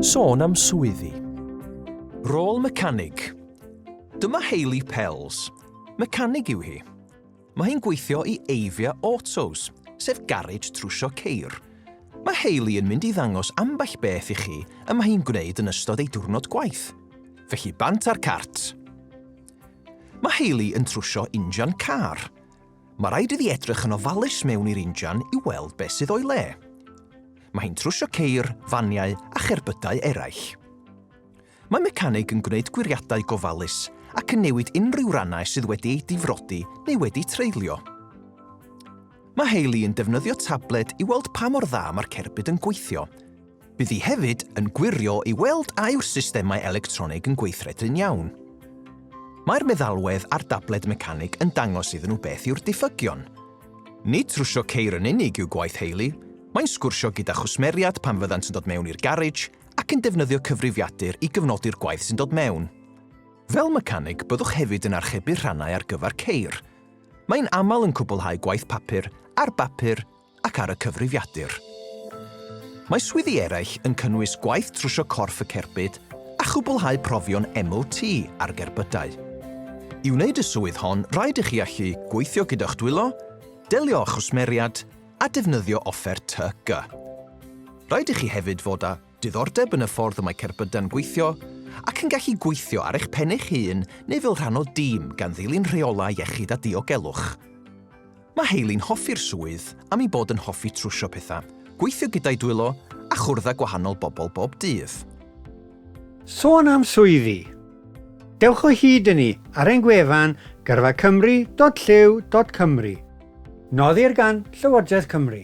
Sôn am swyddi. Rôl mecanig. Dyma Hayley Pells. Mecanig yw hi. Mae hi'n gweithio i Avia Autos, sef garej trwsio ceir. Mae Hayley yn mynd i ddangos ambell beth i chi y mae hi'n gwneud yn ystod ei diwrnod gwaith. Felly bant ar cart. Mae Hayley yn trwsio injan car. Mae rhaid iddi edrych yn ofalus mewn i'r injan i weld beth sydd o'i le. Mae hi'n trwsio ceir, faniau a cherbydau eraill. Mae mecanig yn gwneud gwiriadau gofalus ac yn newid unrhyw rannau sydd wedi eu difrodi neu wedi treulio. Mae Hayley yn defnyddio tabled i weld pa mor dda mae'r cerbyd yn gweithio, Bydd hi hefyd yn gwirio i weld a yw'r systemau electronig yn gweithredu'n iawn. Mae'r meddalwedd a'r dabled mecanig yn dangos iddyn nhw beth yw'r diffygion. Nid trwsio ceir yn unig yw gwaith Hayley, mae'n sgwrsio gyda chwsmeriad pan fyddant yn dod mewn i'r garej ac yn defnyddio cyfrifiadur i gyfnodi'r gwaith sy'n dod mewn. Fel mecanig, byddwch hefyd yn archebu rhannau ar gyfer ceir. Mae'n aml yn cwblhau gwaith papur ar bapur ac ar y cyfrifiadur. Mae swyddi eraill yn cynnwys gwaith trwsio corff y cerbyd a chwblhau profion MOT ar gerbydau. I wneud y swydd hon rhaid i chi allu gweithio gyda'ch dwylo, delio â chwsmeriad a defnyddio offer TY-gy. Rhaid i chi hefyd fod â Diddordeb yn y ffordd y mae cerbydau'n gweithio, ac yn gallu gweithio ar eich pen eich hun neu fel rhan o dîm gan ddilyn rheolau iechyd a diogelwch. Mae Hayley'n hoffi'r swydd am ei bod yn hoffi trwsio pethau, gweithio gyda'i dwylo a chwrdd â gwahanol bobl bob dydd. Sôn am swyddi! Dewch o hyd i ni ar ein gwefan gyrfacymru.llyw.cymru. Noddir gan Llywodraeth Cymru.